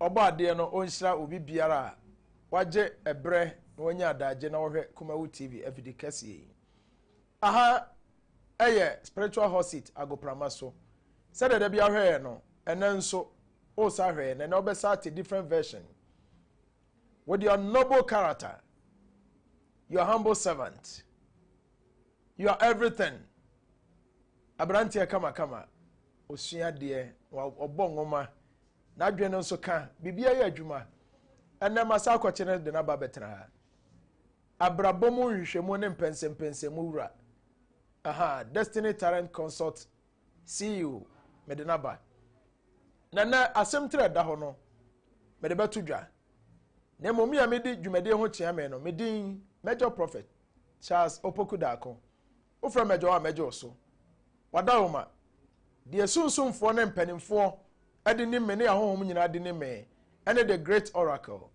Ɔbɔadeɛ no ɔnhyira obi biara a wagye ɛberɛ na wanya adagye na ɔhwɛ Kumawu TV afidi kɛseɛ yi. Aha ɛyɛ Spiritual Hot Seat Agoprama so. Sɛdeɛ da biara hwɛɛ no, ɛnɛ nso wosa hwɛɛ na ɛnɛ wobɛsa ate different version. With your noble character, your humble servant, your everything, aberanteɛ kamakama, ɔsua adeɛ, ɔbɔ nwoma, N'adwene no nso ka biribiara yɛ adwuma. Ɛnnɛ ma saa akwakye no de n'aba bɛtena ha. Abrabɔ mu nhwehwɛmu ne mpɛnsɛmpɛnsɛmu wura. Aha, Destiny Talent Consult CEO, mede n'aba. Na nnɛ asɛm tiri a ɛda hɔ no, mede bɛto dwa. Na mmom me a medi dwumadie ho kyea me no, me din Major Prophet Charles Opoku Darko, Wofrɛ mɛgye wo a mɛgye wo so. Wada wo ma. Deɛ sunsumfoɔ ne mpanimfoɔ de nim me ne ahonhom nyinaa de nim me ne the great oracle.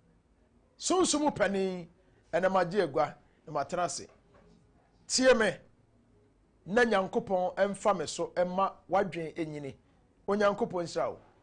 Sunsum mu panin, ɛnɛ magye agua na matena ase. Tie me na Nyankopɔn mfa me so mma w'adwene nyini. Onyankopɔn nhyira wo.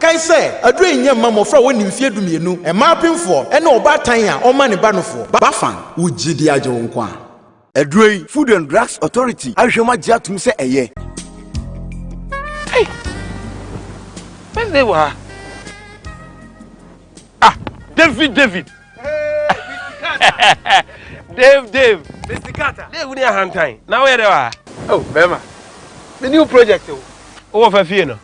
Kae sɛ, aduro yi nyɛ mma mmɔfra a wɔnni mfeɛ dumienu, mmaa apemfoɔ, ne ɔbaatan a ɔmma ne ba nofoɔ. Bafang, wo gyidie agye wo nkwa. Aduro yi, Food and Drugs Authority ahwehwɛ mu agye atom sɛ ɛyɛ. Ei! Wednesday wɔ ha? Ah, David, David! Dave, Dave! Mr. Carter! Dave ni ahantan, na woyɛ dɛ wɔ ha? Oh, bɛrima, me new project o. Wowɔ fa fie no?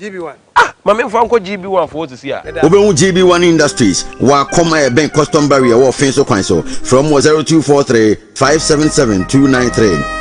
GB1. Ah! Ma me nfa nkɔ GB1 fo hɔ sisi a. Meda. Wobɛhu GB1 Industries wɔ Akɔm a ɛbɛn Custom Barrier wɔ Ɔfee so kwan so. Frɛ wɔn wɔ 0243 577 293.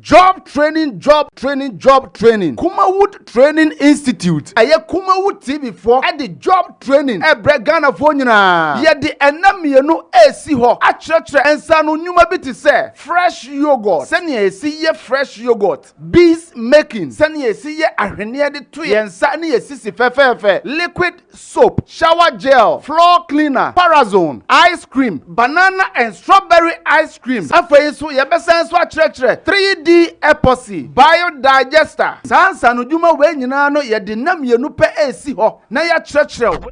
Job Training Job Training Job Training Kumawood Training Institute Ɛyɛ Kumawood TV foɔ ɛde job training ɛbrɛ Ghanafoɔ nyinaa. Yɛde ɛnna mmienu ɛresi hɔ akyerɛkyerɛ nsaano nnwuma bi te sɛ, Fresh yoghurt, sɛnea yɛsi yɛ fresh yoghurt, bees making, sɛnea yɛsi yɛ ahweneɛ de to yɛn nsa ne yɛn sisi fɛfɛɛfɛ, liquid soap, shower gel, floor cleaner, parazone, ice cream, banana and strawberry ice cream. Afei nso yɛbɛsan nso akyerɛkyerɛ 3D epoxy, biodigester. Saa nsaanodwuma wei nyinaa no yɛde nna mmienu pɛ resi hɔ na yɛakyerɛkyerɛ wo.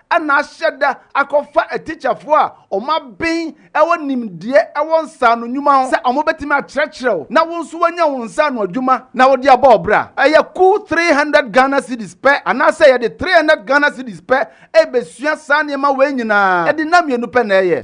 na ahyɛ da akɔfa atikyafoɔ a wɔaben wɔ nimdeɛ wɔ nsaano nnwuma ho sɛ wɔbɛtumi akyerɛkyerɛ wo na wo nso woanya wo nsaano adwuma na wode abɔ wo bra. Ɛyɛ kuw three hundred Ghana cedis pɛ anaasɛ yɛde three hundred Ghana cedis pɛ rebɛsua saa nneɛma wei nyinaa. Ɛde nna mmienu pɛ na ɛyɛ.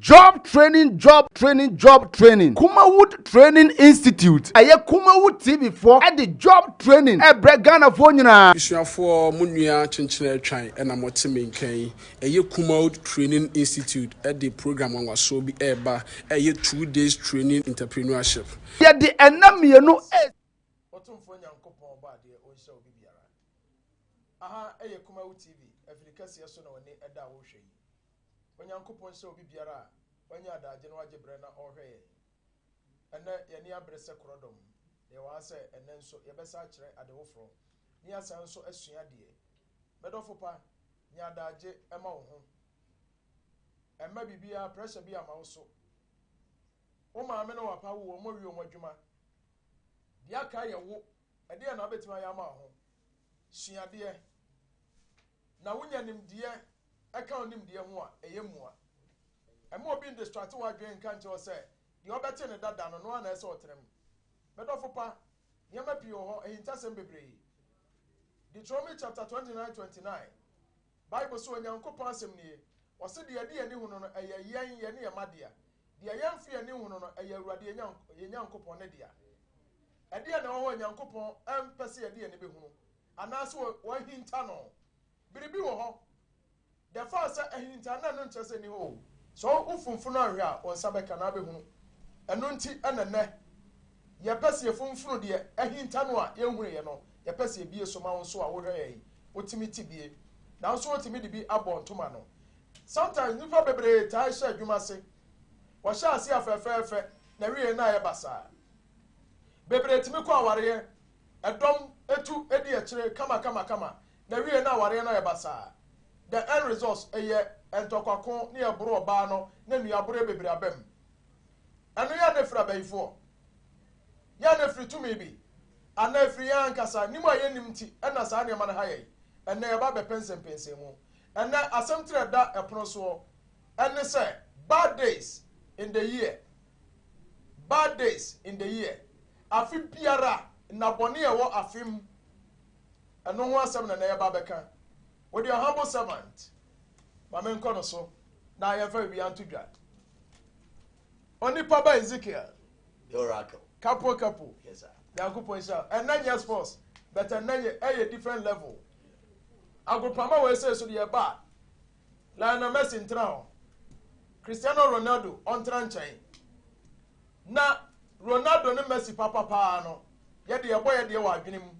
Job Training Job Training Job Training Kumawood Training Institute Ɛyɛ Kumawood TV foɔ de Job Training ɛbrɛ Ghanafoɔ nyinaa. Asuafoɔ, mo nua Kyenkyen Atwan na mo te me nka yi. Ɛyɛ Kumawood Training Institute de program nwanwasoɔ bi ɛreba a ɛyɛ Two Days Training Entreprenuership. Yɛde ɛnna mmienu ɛresi. Otumfoɔ Nyankopɔn ɔbɔ adeɛ onhyira obi biara. Aha ɛyɛ Kumawood TV, afiri kɛseɛ so na w'ani ɛda a wohwɛ yi. Onyankopɔn hyɛ obi biara a wanya adaagye no agye berɛ na ɔrehwɛ yɛn. Ɛnnɛ, yɛn ani abere sɛ korɔdɔm, na yɛwɔ ha sɛ ɛnnɛ nso yɛbɛsan akyerɛ ade foforɔ, na yɛasan nso asua adeɛ. Me dɔfo pa, nya adaagye ma wo ho. Mma biribiara, pressure bi amma wo so. Wo maame ne w'apa awo, wɔawie wɔn adwuma. Deɛ aka yɛ wo. Ɛdeɛn na wobɛtumi ayɛ ama wo ho? Sua adeɛ, na wonya nimdeɛ ɛka wo nimdeɛ ho a, ɛyɛ mua. Ɛmma obi ndestrate w'adwene nka nkyerɛ wo sɛ deɛ ɔbɛte no dada no, no ara na ɛsɛ sɛ ɔtra mu. Me dɔfo pa, nneɛma pii wɔ hɔ, ahintasɛm bebree. Deuteronomy chapter 29 29, Bible se Onyankopɔn asɛm nie, ɔse, Deɛ yɛde yɛn ani hunu no, ɛyɛ yɛn, yɛne yɛn mma dea. Deɛ yɛmfa yɛn ani nhunu no, ɛyɛ Awurade yɛn Nyankopɔn ne dea. Ɛdeɛn na ɛwɔ hɔ a Onyankopɔn mpɛ sɛ yɛde yɛn ani bɛhunu, anaase wahinta no? Biribi wɔ hɔ. Dɛfaa sɛ ahinta na ɛno nkyerɛ sɛ ɛnni hɔ o. Sɛ wo funfunu anhwɛ a, wo nsa bɛka na abɛhunu. Ɛno nti na nnɛ yɛpɛ sɛ yɛfunfunu deɛ ahinta no a yɛnhunuiɛ no, yɛpɛ sɛ yɛbie so ma wo nso a wohwɛeɛ yi, wotumi te bie. Nanso wotumi de bi abɔ ntoma no. Sometimes nnipa bebree taa hyɛ adwuma ase. Wɔhyɛ ase a fɛfɛɛfɛ na ɛwieɛ no ayɛ basaa. Bebree tumi kɔ awareɛ, ɛdɔm tu di akyire kamakamakama na wiei no awareɛ no ayɛ basaa. The end results, Ɛyɛ ntɔkwa ko ne ɛboro ɔbaa no na nua aboroɛ bebree aba mu. Ɛno yɛ a na ɛfiri abayifoɔ? Yɛ a na ɛfiri tumi bi? Anaa ɛfiri yɛn ankasa nim a yɛnnim nti na saa nneɛma no ha yɛn? Ɛnnɛ yɛba abɛpɛ nsɛmpɛnsɛmu. Ɛnnɛ asɛm tire a ɛda ɛpono soɔ ne sɛ Bad Days in the Year Bad Days in the Year Afe biara, nnabɔne a ɛwɔ afe mu. Ɛno ho asɛm na na yɛba abɛka. Wo deɛ humble servant, ma menkɔ no so na yɛmfa biribiara nto dwa. Onipa ba Ezekiel. The oracle. Kapo kapo. Yes, sir. Nyankopɔn nhyira. Ɛnna nyɛ sports, but ɛnna yɛ ɛyɛ different level. Agopama wɔ ɛsɛ so deɛ ɛba a, Lionel Messi ntena hɔ. Cristiano Ronaldo ɔntena nkyɛn. Na Ronaldo ne Messi papa paa no, yɛde yɛbɔ yɛ deɛ wɔ adwene mu.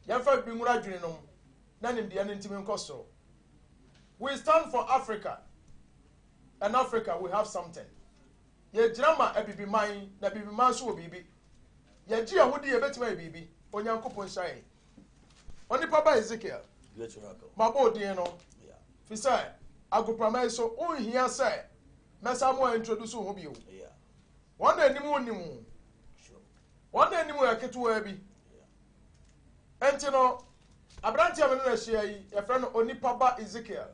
Yɛmfa bibi nwura adwene nom na nimdeɛ no ntumi nkɔ soro. We stand for Africa and Africa we have something. Yɛgyina ma abibiman na abibiman nso wɔ biribi. Yɛgye yɛn ho di yɛbɛtumi ayɛ biribi. Onyankopɔn nhyira yɛn. Onipa ba Ezekiel, mabɔ wo din no, fi sɛ agoprama yi so wonhia sɛ mɛsa mo a introduce wo ho bio. Wɔn na anim nnim wo. Wɔn na anim yɛ ketewaa bi. Enti no, aberante a me ne no ahyia yi, yɛfrɛ no Onipa ba Ezekiel.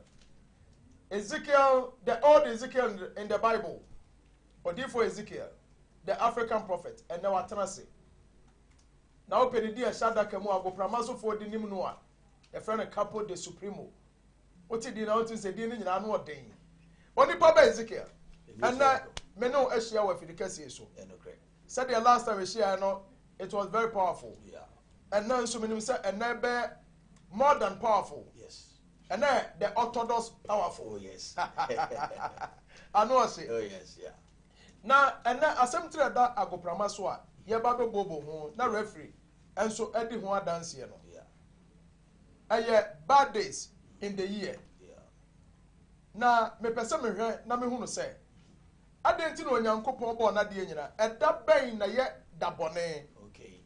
Ezekiel, the old Ezekiel in the Bible. Odiifo Ezekiel, the African prophet, ɛnɛ watena ase. Na wopɛ didi a ɛhyɛ adaka mu a agoprama sofoɔ de nim no a, yɛfrɛ no Capo de Supremo. Wote din na wotumi sɛ din no nyinaa no ɔden. Onipa bɛ Ezekiel, ɛnɛ me ne ahyia wɔ afidi kɛseɛ so. Sɛdeɛ last time ɛhyiaɛ no, it was very powerful. Ɛnɛ nso menim sɛ ɛnɛ bɛ more than powerful. Yes. And then the Orthodox powerful. Oh, yes. I know I say. Oh, yes, yeah. Na ɛnnɛ, asɛm tiri a ɛda agoprama so a yɛreba abɛbooboo ho na referee nso adi ho adanseɛ no, ɛyɛ Bad Days in the Year. Na mepɛ sɛ mehwɛ na mehunu sɛ, adɛn nti na Onyankopɔn bɔɔ n'adeɛ nyinaa? Ɛda bɛn na ɛyɛ da bɔne?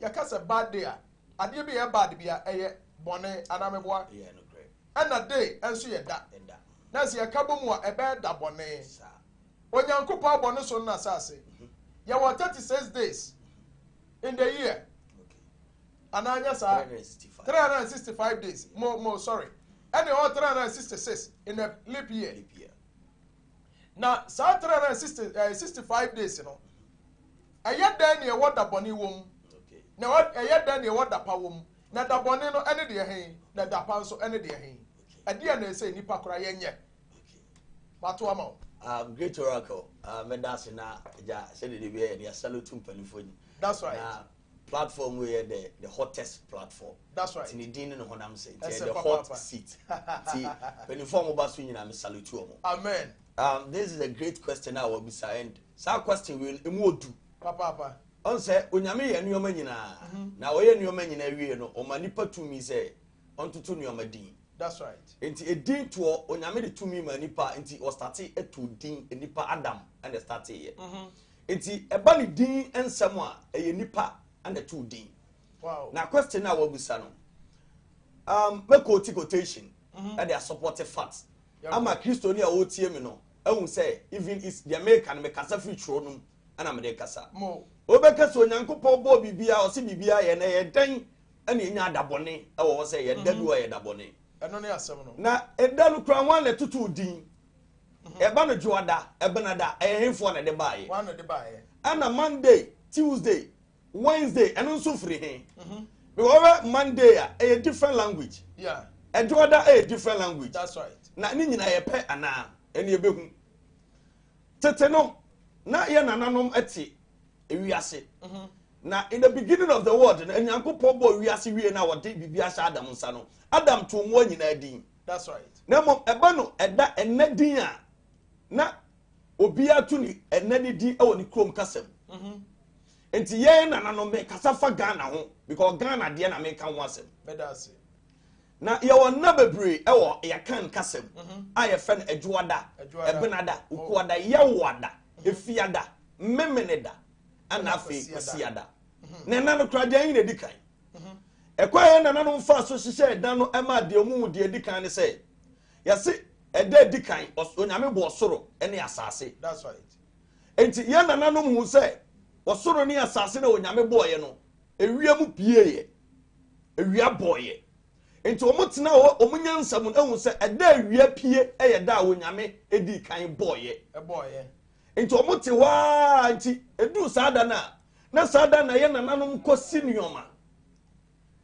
Yɛka sɛ bad day a, adeɛ bi a ɛyɛ bad bi a, ɛyɛ bɔne, anaa meboa? Ɛna day nso yɛ da. Nanso yɛka bɔ mu a, ɛbɛyɛ da bɔne. Onyankopɔn bɔ ne so no na asase. Yɛwɔ thirty six days in the year. Anaa nyɛ saa. Three hundred and sixty five days. Mo mo sorry. Ɛna ɛwɔ three hundred and sixty six in the leap year. Na saa three hundred and sixty eh, sixty five days no. Ɛyɛ dɛn na ɛwɔ da bɔne wɔ mu. Na ɛyɛ dɛn na ɛwɔ da pa wɔ mu. Na da bɔne no ɛne deɛ hɛn. Na da pa nso ɛne deɛ hɛn. Ɛdeɛ na ɛsɛ nipa kora yɛnyɛ. mato ama wo um, great oracle uh, mɛda ase na gya sɛdeɛ de biɛ yɛde asaloto mpanimfoɔ ni that's right na platform wei yɛ the the hottest platform that's right ti ne din ne ne honam sɛ nti yɛ the hot papa. seat ti mpanimfoɔ a wɔba so nyinaa me salute wɔn amen um, this is a great question a wɔbisa and saa question wei no emu odu papaapa ɔn sɛ onyame yɛ nneɛma nyinaa mhm. na ɔyɛ nneɛma nyinaa wie no ɔma nipa tumi sɛ ɔntoto nneɛma din. That's right. Nti edin toɔ onyame de tumi ma nipa nti ɔstate eto din nipa Adam ɛna ɛstate yɛ. Mhm. Nti ɛba ne din nsɛm a ɛyɛ nipa ɛna ɛto din. Wow. Na question na wabusa no um, mɛ quote quotation mhm. ɛde asopɔte fact ama kristoni a ɔretie mi no ɛhu sɛ even is deɛ meka no mekasa firi twerɛ no mu ɛna mede kasa. Mo. Wobɛka sɛ Onyankopɔn bɔɔ biribiara ɔse biribiara yɛ na ɛyɛ dɛn ɛna enya adabɔne ɛwɔ hɔ sɛ yɛ da bi wɔ yɛ dabɔne ɛno ne asɛm no na ɛda no kura wɔn na ɛtoto din ɛba no dwoada ɛbenada ɛyɛ henfoɔ na ɛde baayɛ wɔn na ɛde baayɛ ɛna monday tuesday wednesday ɛno nso firi he because wɔbɛ monday a ɛyɛ different language yeah ɛdwoada ɛyɛ different language that's right na ne nyinaa yɛ pɛ anaa ɛne ɛbɛhu tete no na yɛ nananom ɛte ewiase na in the beginning of the world na nyankopɔn bɔ wiase wie na wɔde biribi ahyɛ adam nsa no adam to mmoa nyinaa din that's right na mmom ɛba no ɛda ɛnɛ din a na obiara to ne ɛnɛ ne din ɛwɔ ne kurom kasam mm-hmm. nti yɛn nana no mekasa fa ghana ho because ghana deɛ na meka ho asɛm Na yɛwɔ nna bebree wɔ yɛn Akan kasa mu a yɛfrɛ no Adwoada, Ɛbenada, Ukuada, Yɛwoada, Efiada, Memeneda, ɛna afei Kwasiada. Na nna no koraa deɛ ayi na edi kan. Ɛkwan a yɛn nananom faa so hyehyɛɛ nna no maa deɛ wɔn mu deɛ edi kan ne sɛ, yɛse ɛda a edi kan Onyame bɔɔ soro ne asase. Enti yɛn nananom hu sɛ ɔsoro ne asase no a Onyame bɔeɛ no, Ewia mu pieeɛ, ewia bɔeɛ. Nti wɔn tena hɔ, wɔn nyansa mu ehu sɛ ɛda ewia pie yɛ da a Onyame edii kan bɔeɛ. Ɛbɔeɛ. Nti wɔn te hɔ aa nti eduu saa da no a, na saa da no na yɛn nananom kɔsi nnoɔma.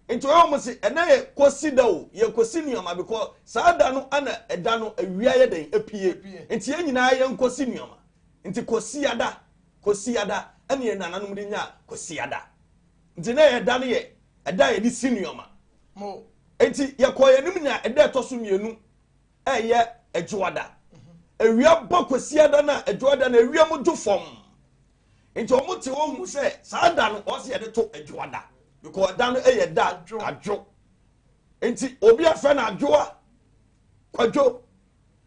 Nti wɔyɛ wɔn se ɛnɛ yɛ kɔsi da o, yɛ kɔsi nnoɔma because saa da no ɛna ɛda no ewia yɛ dɛn epie. Nti yɛn nyinaa yɛn kɔsi nnoɔma. Nti kɔsiada Kwasiada ne yɛn nananom de nyaa Kwasiada. Nti na yɛn da no yɛ ɛda a yɛde si nneɛma. Nti yɛkɔɔ yɛn anim nyaa ɛda ɛtɔ so mmienu a ɛyɛ Adwoada. Awia bɔ Kwasiada no a Adwoada no awia mu dwo fam. Nti wɔn te wɔn hu sɛ saa da no wɔn sɛ yɛde to Adwoada because ɛda no yɛ da adwo. Nti obi afɛ no adwoa. Kwadwo,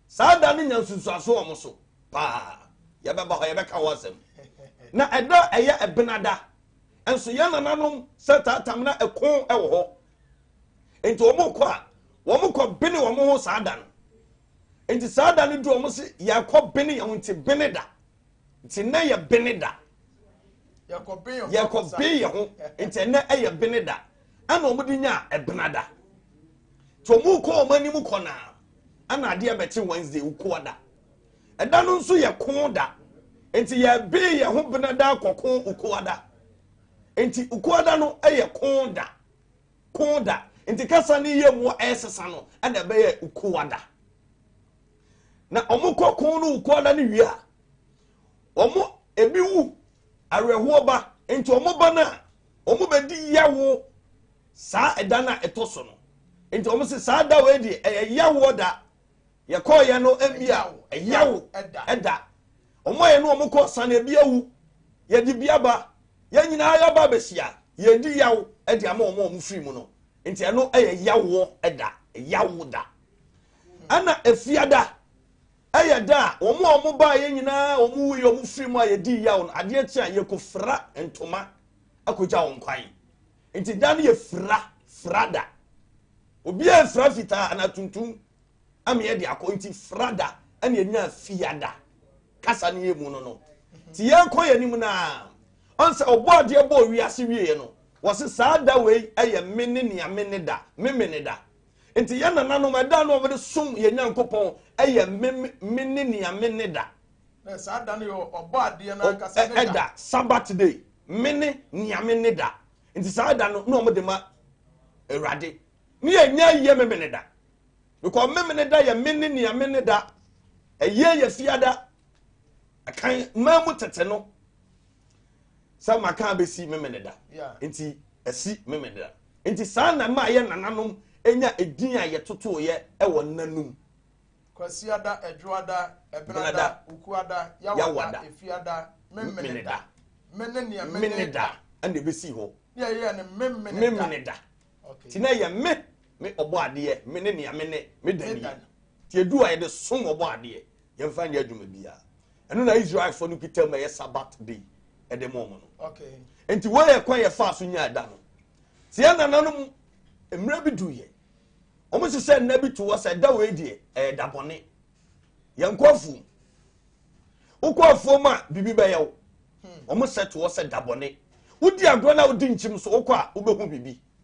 saa da no nya nsunsuanso wɔ mo so paa. Yɛbɛba hɔ, yɛbɛka ho asɛm. Na ɛda a ɛyɛ Ɛbenada nso, yɛn nananom sɛ taatam na ɛko wɔ hɔ. Enti wɔkɔ a, wɔkɔ bene wɔn ho saa da no. Enti saa da no du wɔn se yɛkɔ bene yɛn ho nti bene da. nti nnɛ yɛ bene da yɛkɔbe yɛ ho nti ɛnɛ ɛyɛ bene da ɛna wɔn de nya ɛbena da nti wɔn kɔ wɔn anim kɔ na ɛna adeɛ bɛkye wednesday wukuwa da ɛda no nso yɛ ko da nti yɛbe yɛ ho bena da kɔko wukuwa da nti wukuwa da no ɛyɛ ko da ko da nti kasa ne yɛ mu ɛsesa no ɛna ɛbɛyɛ wukuwa da. na wɔn kɔ ko no wukɔ na ne wie a wɔn ebi wu awerɛhoɔ ba nti wɔn ba no a wɔn bɛdi yawo saa ɛda no a ɛtɔ so no nti wɔn sɛ saa da wei deɛ ɛyɛ yawoɔ da yɛkɔɔyɛ no mmea ɛyawo ɛda wɔn a yɛ no wɔn kɔ san ebi awu yɛde bi aba yɛn nyinaa yɛba abɛhyia yɛdi yawo ɛde ama wɔn a wɔn firi mu no nti ɛno ɛyɛ yawoɔ ɛda yawo da. Ɛna efiada ɛyɛ da a wɔn a wɔn baeɛ nyinaa wɔn wui wɔn firi mu a yɛdi yaw no adeɛ kye a yɛkɔfira ntoma akɔgya wɔn kwan nti da no yɛ fira fira da obiara fira fitaa anaa tuntum ameɛ de akɔ nti fira da ɛna ɛnya fiada kasa no yɛ mu no no nti yɛkɔ yɛ anim naa ɔnsɛ ɔbɔ adeɛ bɔ wiase wieɛ no wɔse saa da wei ɛyɛ me ne nea me ne da me me ne da Enti yɛn nananom ɛda no a wɔde som yɛn Nyankopɔn yɛ me me ne nea me ne da. Na saa da no yɛ ɔbɔ adeɛ no ankasa ne da. Ɛda Sabbath day me ne nea me ne da. Nti saa da no na wɔde ma Awurade. Ne yɛ nya yɛ me me ne da. Because me me ne da yɛ me ne nea me ne da. Ɛyɛ yɛ fiada. Ɛkan mmaa mu tete no. sɛ maka abɛsi memeneda nti asi memeneda nti saa na ɛma yɛ nananom nya edin a yɛtotoeɛ ɛwɔ nanum kwasiada adwoada ɛbenada ukuada yawada efiada memeneda mene nea meneda ɛna ɛbɛsi hɔ ne ɛyɛ ne memeneda nti na ɛyɛ me me ɔbɔ adeɛ mene nea mene meda nie nti ɛdu a yɛde som ɔbɔ adeɛ yɛmfa nyɛ adwuma biara ɛno na israelfoɔ no kita mu ɛyɛ sabat day ɛde mo ɔmo no nti wɔyɛ kwan yɛ faa so nya ɛda no te yɛ nananom mmerɛ bi duiɛ ɔmo hyehyɛ nna bi to hɔ sɛ ɛda wei deɛ ɛyɛ da bɔne yɛn kɔ afuom wokɔ afuom a biribi bɛyɛ wo ɔmo sɛ to hɔ sɛ da bɔne wodi agorɔ na wodi nkyim so wokɔ a wobɛhu biribi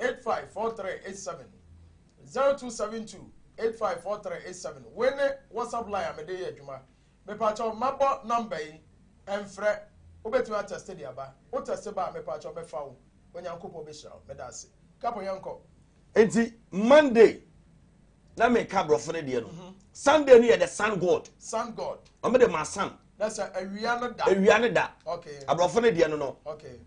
eight five four three eight seven zero two seven two eight five four three eight seven wei ne whatsapp line a mede yɛ adwuma mepaakyɛw mabɔ namba yi ɛmfrɛ wobɛtumi atɛste de aba wotɛste ba a mepaakyɛw mɛfa wo onyankopɔn bɛhyira wo meda ase kapo yɛnkɔ nti monday na meka borɔfo no deɛ no mhm. sunday no yɛ the sun god sun god ɔmo de ma sun na sɛ awia no da awia no da okay aborɔfo no deɛ no no okay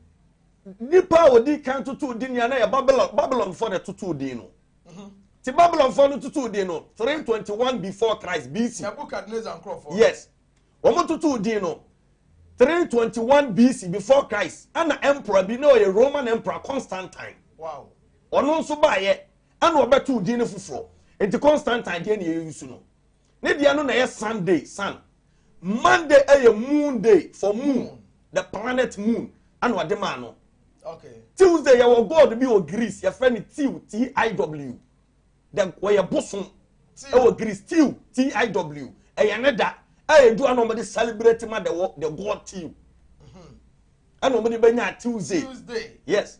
Nnipa a wɔdi kan totoo din a na yɛ Babylon Babylonfoɔ na ɛtotoo din no. Mhm. Ti Babylonfoɔ no totoo din no 321 before Christ BC. Nebuchadnezzar nkurɔfoɔ. Yes. Wɔn totoo din no 321 BC before Christ. Ɛna emperor bi na ɔyɛ Roman emperor Constantine. Wow. Ɔno nso baayɛ ɛna ɔbɛtoo din no foforɔ. Nti Constantine deɛ na yɛyi su no. Ne deɛ no na ɛyɛ Sunday, sun. Monday ɛyɛ moon day for moon, the planet moon ɛna ɔde maa no. Okay. Tuesday yɛwɔ god bi wɔ Greece yɛfrɛ no Tiw T-I-W. The wɔyɛ bosom ɛwɔ Greece Tiw T-I-W ɛyɛ ne da ɛyɛ du a na wɔde celebrate ma the, the god Tiw. ɛna wɔn de bɛnya tuesday tuesday yes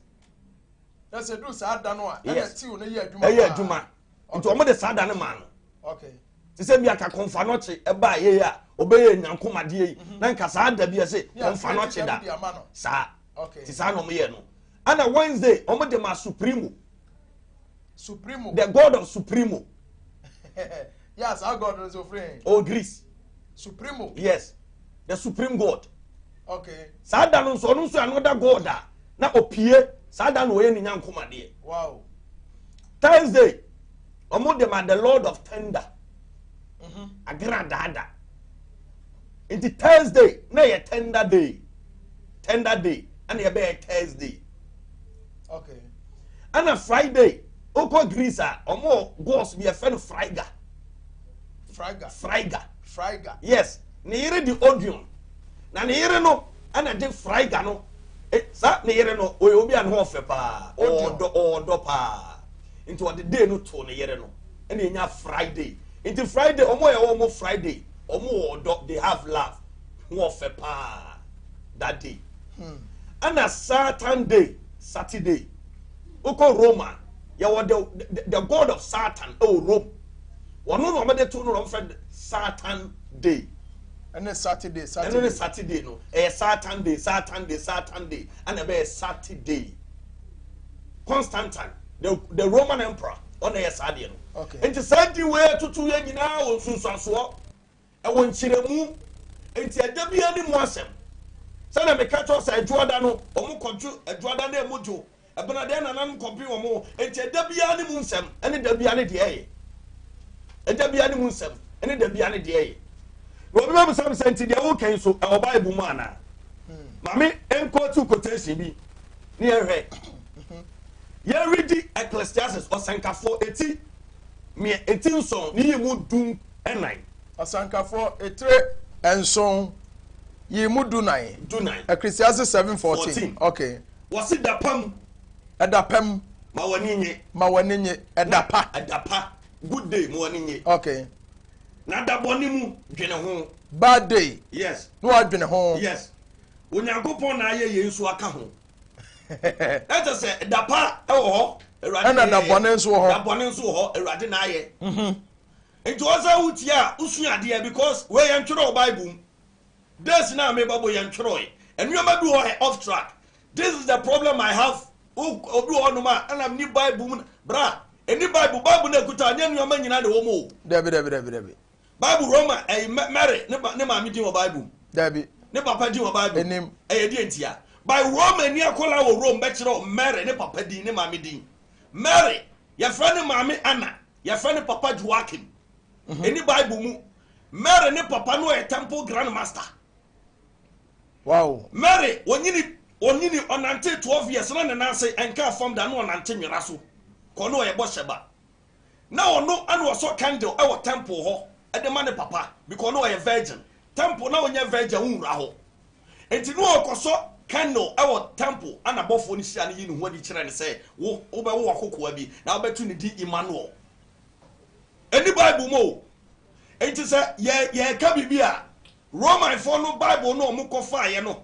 na sɛ duru saa da no a ɛna Yes. tiw no yɛ adwuma ɛyɛ paa. adwuma nti wɔn de saa da no maa no okay te sɛ bi aka kɔnfa nɔkye ɛbaa yɛ yi a ɔbɛyɛ nyankomadeɛ yi na nka saa da bi ɛsɛ Yeah, kɔnfa nɔkye da ɛde ama no. saa Okay. te saa na wɔn yɛ no ɛna wednesday wɔn de ma supremo Supremo. The God of Supremo. yes, our God is your friend. Oh, Greece. Supremo. Yes, the Supreme God. Okay. Saa da no nso ɔno nso another God a na opie saa da no ɔyɛ ne nyankomadeɛ. Wow. Thursday, wɔn de ma the Lord of Thunder. Mm-hmm. Agra daada. Nti Thursday na yɛ tender day. Tender day ɛna yɛ bɛyɛ Thursday. okay ɛna friday wokɔ greece a ɔmo gos bi ɛfɛ no friga friga friga friga yes ne yere de odion na ne yere no ɛna de friga no e, saa ne yere no ɔyɛ obi a ne ho ɔfɛ paa ɔɔdɔ ɔɔdɔ paa nti ɔde day no too ne yere no ɛna enya friday nti friday ɔmo yɛ ɔmo friday ɔmo ɔɔdɔ they have love. ho ɔfɛ paa that day ɛna satan day saturday wokɔ rome a yɛwɔ the, the, the god of satan ɛwɔ rome wɔno na wɔde to no na wɔfrɛ satan day ɛne saturday saturday ɛne saturday no ɛyɛ satan day satan day satan day ɛna ɛbɛyɛ saturday constantine the, the roman emperor ɔna ɛyɛ saa deɛ no nti saa di wei tutu yɛ nyinaa wɔ nsunsuansoɔ Ɛwɔ nkyerɛmu, enti ɛda biara ne mu asɛm. Sɛnea meka kyerɛ wo sɛ Adwoada no, wɔkɔdwo Adwoada no mu dwo. Ɛbenada yɛn nananom kɔpem wɔn ho, enti ɛda biara ne mu nsɛm ne da biara ne deɛ ɛyɛ. Ɛda biara ne mu nsɛm ne da biara ne deɛ ɛyɛ. Na obi bɛbisa me sɛ, nti deɛ woreka yi nso, ɛwɔ Bible mu anaa? Ma me nkɔɔtu quotation bi ne yɛnhwɛ. Yɛredi Ecclesiastes, Ɔsɛnkafoɔ, eti. Nea eti nson no yii mu du nnan. Asankafoɔ, etire nson yii mu du nan. Du nan. Ecclesiastes seven fourteen. Fourteen. Okay. Wɔsi da pa mu. Ɛda pa mu. Ma w'ani nye. Ma w'ani nye. Ɛda pa. Ɛda pa. Good day, ma w'ani nye. Okay. Na da bɔne mu, dwene ho. Bad day. Yes. Na wadwene ho. Yes. Onyankopɔn na ayɛ yei nso aka ho. na kyɛ sɛ da pa wɔ hɔ awurade ɛna da bɔne nso wɔ hɔ da bɔne nso wɔ hɔ awurade na ayɛ mhm. nti wɔ sɛ wotie a wosua adeɛ because wei yɛntwerɛ wɔ bible mu days no a mebɛbɔ yɛntwerɛe nneɛma bi wɔ hɛ off track this is the problem i have obi wɔ hɔnom a ɛna ni bible mu bra ɛni bible bible no akuta nyɛ nneɛma nyina na ɛwɔ mu o dabi dabi dabi dabi Bible Roma ɛyi Mary ne ba ne maame din wɔ Bible mu. Dabi. Ne papa din wɔ Bible. Enim. Ɛyɛ deɛ ntia. By Roma ni akɔla wɔ Rome bɛkyerɛ Mary ne papa din ne maame din. Mary yɛfrɛ ne maame Anna yɛfrɛ ne papa Joachim. Ɛni mhm. Bible mu. Mary ne papa no yɛ temple grand master. Wow. Mary onyini onyini ɔnante twelve years na ne nan ase ɛnka fam da na ɔnante nwera so kɔ no ɔyɛ bɔ hyɛba. na ɔno na ɔsɔ candle wɔ temple hɔ de ma ne papa because na ɔyɛ virgin, temple na ɔnyɛ virgin a wonwura hɔ nti na ɔkɔsɔ candle wɔ temple a n'abɔfoɔ no hyia no yi ne ho adi kyerɛ no sɛ wo wobɛwo akokoa bi na wobɛto ne din Emmanuel. Ɛni Bible mu o. Nti sɛ yɛ yɛreka biribi a Romanfoɔ no Bible no wɔkɔfaeɛ no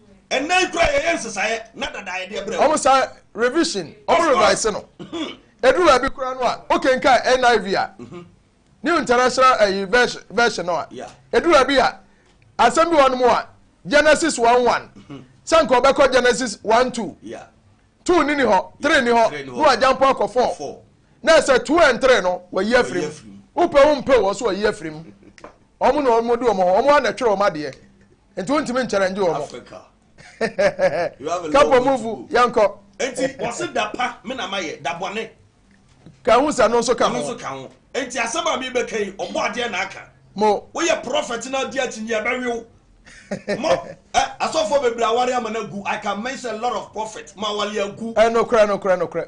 ɛnna yi kura yɛyɛ nsesaeɛ na dada yɛde ɛbrɛ wɔn. wɔn san revision wɔn revise no mhm. eduru baabi kura no a okenkan niv a mhm. new international ɛyi eh, version no a eduru baabi a asɛm bi wɔn mu a genesis one one mhm. sɛ nka ɔbɛkɔ genesis one two two ni ni hɔ three ni hɔ no wa jampo akɔ four na ɛsɛ two and three no wɔyi afiri mu wopɛ wo mpɛ wɔn so wɔyi afiri mu wɔn na wɔn de wɔn ho wɔn anatwerɛ wɔn adeɛ. nti wontumi nkyɛrɛ ngye wɔn africa kapɔ muvu yɛnkɔ nti wɔse da pa me na mayɛ da bɔne ka ho sɛ no nso ka ho ka ho nti asɛm a mebɛka yi ɔbɔ adeɛ na aka mo woyɛ prɔfɛt na adi akyi nyeɛ bɛwew mo eh, asɔfoɔ bebree aware ama no agu i can mention a lot of prophet ma awale agu ɛnokorɛ eh, nokorɛ nokorɛ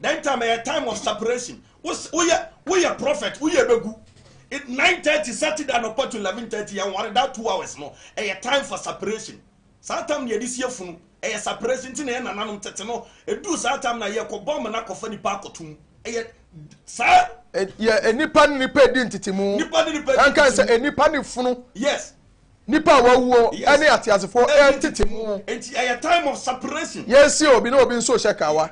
That time ɛyɛ time of separation. Woyɛ woyɛ prophet woyɛ begu. Nine thirty Saturday anɔpa to eleven thirty yɛn ware that two hours no ɛyɛ time for separation. Saa time na yɛde sie funu ɛyɛ separation ti na yɛn nananom tete no edu saa time na yɛkɔ bɔ amena kɔfa nipa akɔto mu ɛyɛ saa. Yɛ nipa ne nipa edi ntetemu. Nipa ne nipa edi ntetemu. Ɛnka sɛ nipa ne funu. Yes. Nnipa a wɔawuo ne ateasefoɔ retete mu. Yɛnsie obi na obi nso rehyɛ kawa.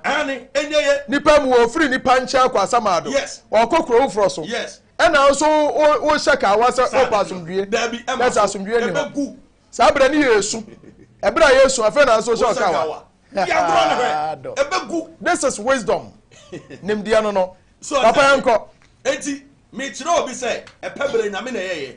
Nnipa mu wɔfiri nnipa nkyɛn kɔ asamado. Wɔkɔ kuro foforɔ so. Ɛna nso wohyɛ kawa sɛ wopɛ asomdwie. Na sɛ asomdwie ni hɔ. Saa berɛ ne yɛ esu. Ɛberɛ a yɛsu afei na nso hyɛ kawa. This is wisdom. Nimdeɛ no no. Papa yɛnkɔ. Enti mekyerɛ obi sɛ ɛpɛ berɛ nyame na ɛyɛyɛ.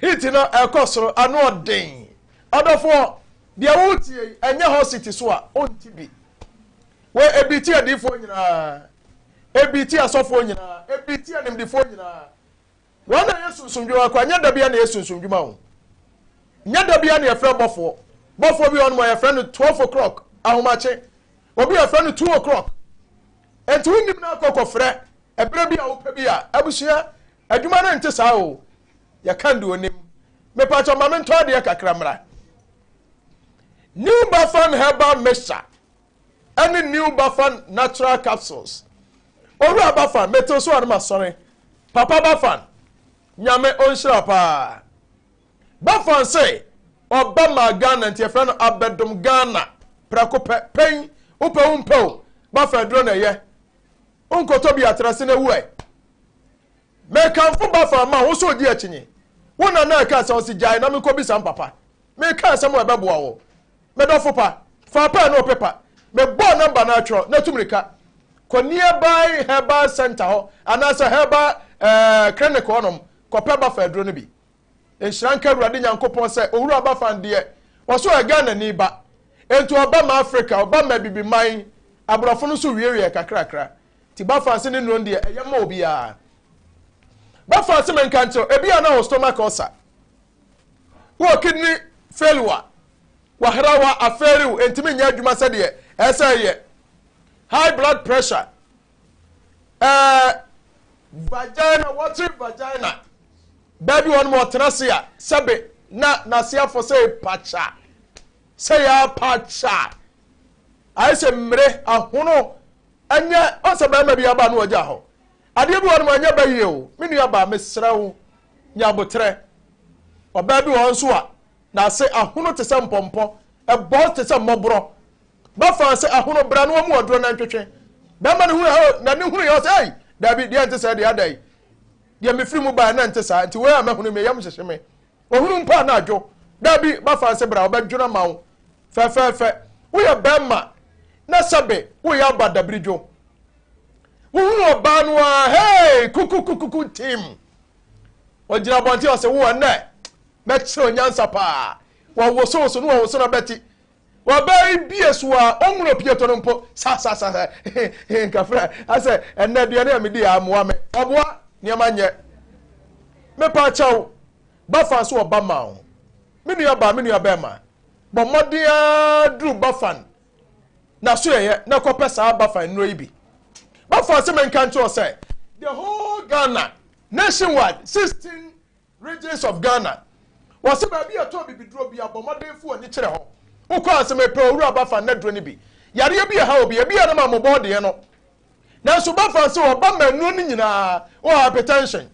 Heat no ɛkɔ soro, ano ɔden. Ɔdɔfoɔ, deɛ woretie yi, ɛnyɛ hot seat so a, wonte bi. Wei, ebi tia adiifoɔ nyinaa. Ebi tia asɔfoɔ nyinaa. Ebi tia animdefoɔ nyinaa. Wɔn na ɛyɛ sunsumdwuma kɔ, ɛnyɛ da bia na ɛyɛ sunsumdwuma o. Nyɛ da bia na yɛfrɛ bɔfoɔ. Bɔfoɔ bi wɔn mu a yɛfrɛ no 12 o'clock, ahomakye. Obi yɛfrɛ no 2 o'clock. Enti wonim no akɔ kɔfrɛ, ɛberɛ bi a wopɛ bi a, abusua Adwuma no nte saa oo. Yɛ can de onim. Mepakyɛw ma me ntɔ adeɛ kakra mmra. New Bafan herbal mixture ɛne New Bafan natural capsules. Owura Bafan metew so a no masɔre. Papa Bafan Nyame onhyira paa. Bafan se ɔba maa Ghana nti yɛfrɛ no abɛdom Ghana prɛko pɛ. Pɛn wopɛ wo mpɛ o Bafan aduro na ɛyɛ. Wonkɔtɔ bi atra ase na wu ɛ. Mekamfo Bafa ma wo sɛ odi akyinnye. Wo na na ɛkaa sɛ ɔse gyae na menkɔbisa mpapa. Mekaa asɛm a ɛbɛboa wo. Me dɔfo pa, fa pɛn ne ɔpepa. Mebɔɔ nɔmba no atwerɛ na tu mmirika kɔ nearby herbal centre hɔ anaasɛ herbal eh, clinic hɔnom kɔpɛ Bafa aduro no bi. Nhyira nka Awurade Nyankopɔn sɛ Owura Bafan deɛ, ɔso yɛ Ghanani ba. Enti ɔba ma Afrika, ɔba ma Abibiman, aborɔfo no nso wiewiee kakrakra. Nti Bafan se ne nnuro deɛ, ɛyɛ ma obiara. Bafan se menka nkyerɛ wo, ebia na wɔ stomach ulcer, wɔ kidney failure, wahrawa, afeerew, entumi nyɛ adwuma sɛdeɛ ɛsɛ sɛ ɛyɛ, high blood pressure, ɛɛ vagina wɔte vagina baabi wɔn mu ɔtena se a sɛbe na n'ase afɔ sɛ pakya sɛ yɛ apakya ayɛ sɛ mmere ahono ɛnyɛ ɔsɛ bɛrima bi aba no ɔgya hɔ adeɛ bi wɔn mu ɛnyɛ bɛyie o me nua baa mesrɛ wo nyabotrɛ ɔbaa bi wɔn nso a n'ase ahono te sɛ mpɔmpɔ ɛbɔ te sɛ mmɔborɔ Bɛfaa sɛ ahono bra no ɔmo ɔdorɔ nantwetwe. Bɛɛma no hunuu oh na ne hunu yɛ ɔsɛ ei daabi deɛ ɛnte sɛɛ deɛ adai deɛ mefiri mu baɛ na ɛnte saa nti wei a mahunu me yam hyehye me ɔhunu mpo a na adwo daabi bɛfaa sɛ bra ɔbɛdwono ama wo fɛfɛɛfɛ woyɛ bɛɛma na sɛbe woyɛ aba dabiri dwo wohunu ɔbaa no a hei kukukukuku tim ɔgyina abɔnten ɔsɛ wo ɛnɛ bɛkyerɛ onyansa paa wɔwosowoso no wɔwoso na bɛte Ɔbaa yi bie so a, ɔhunu opiato no mpo, sa sa sa sa, nkafra, asɛ ɛnna aduane a medi a mmoa me, ɔboa, nneɛma nyɛ. Mepa akyɛw, Bafan so ɔba ma wo. Me nua baa, me nua bɛrima, bɔ mmɔden ara duru Bafan n'asoɛeɛ na kɔpɛ saa Bafan nnuro yi bi. Bafan sɛ menka nkyerɛ wo sɛ, the whole Ghana, nationwide, 16 Regions of Ghana, Wɔse baabi a ɛtɔɔ bibiduro bia bɔ mmɔden fa w'ani kyerɛ hɔ. Wokɔ a, se mepɛ owura ba fa nnaduro no bi. Yareɛ bi ɛha obi, ɛbi a nam a mobɔɔ deɛ no. Nanso ba fa nso ɔba ma nnuro no nyinaa. Wowɔ hypertension,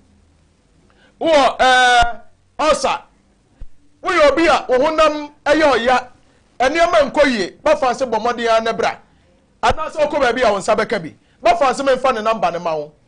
wowɔ eh, ulcer, woyɛ obi a wo honam ɛyɛ ɔya, nneɛma nkɔ yie, ba fa nse bɔ mmɔden ara na bra. Anaase wokɔ baabi a wo nsa bɛka bi, ba fa nse memfa ne number no ma wo.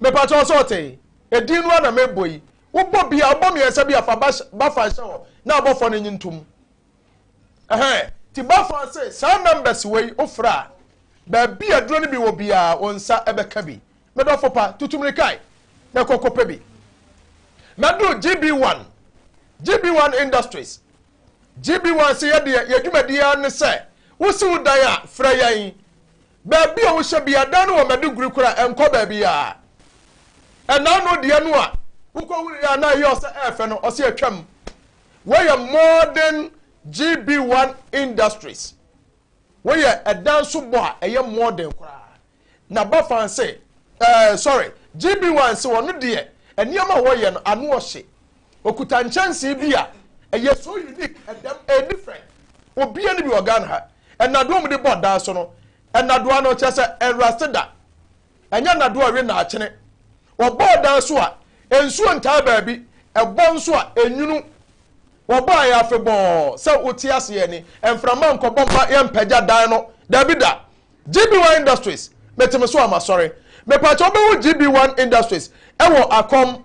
Mepakyɛ wo sɛ ɔtee? Edin no ara na mebɔ yi. Wobɔ bi a, wobɔ mmiɛnsa bi a, fa ba, ba fa hyɛ hɔ na abɔfoɔ no nye ntom. Ɛhɛn, ti ba fa se saa numbers wei wofrɛ a, baabi a duro no bi wɔ biara wo nsa bɛka bi. Me dɔfo pa, tutu mmirika yi na kɔ kɔpɛ bi. Mɛduru GB1, GB1 Industries. GB1 se yɛdeɛ, yɛn dwumadie ara ne sɛ, wosi wo dan a, frɛ yɛn. Baabi a wohyɛ bia dan no wɔ Maiduguri koraa ɛnkɔ baabiaa. Ɛna ano deɛ no a wokɔhuruiɛ a na ɛyɛ ɔsɛ ɛɛfɛ no ɔse atwam. Wei yɛ modern GB1 Industries. Wei yɛ ɛdan so bɔ a ɛyɛ modern koraa. Na Bafan se, ɛɛ sorry, GB1 se ɔno deɛ nneɛma a wɔyɛ no ano ɔhye. Okuta nkyɛnsee bi a ɛyɛ so unique, ɛdɛm, ɛyɛ different. Obia ne bi wɔ Ghana ha. Ɛnadoa mu de bɔ dan so no, ɛnadoa no kyerɛ sɛ ɛnrust da. Ɛnyɛ nadoa ɛwe na akyene. Wɔbɔɔ dan so a, nsuo ntaa baabi, ɛbɔ nso a, ɛnwunu. Wɔbɔ a ɛyɛ afebɔɔ, sɛ wote aseɛ ni, mframa nkɔbɔ mma yɛmpagya dan no, daabi da. GB1 Industries, mete me so a masɔre. Mepakyɛ wobɛhu GB1 Industries ɛwɔ Akɔm.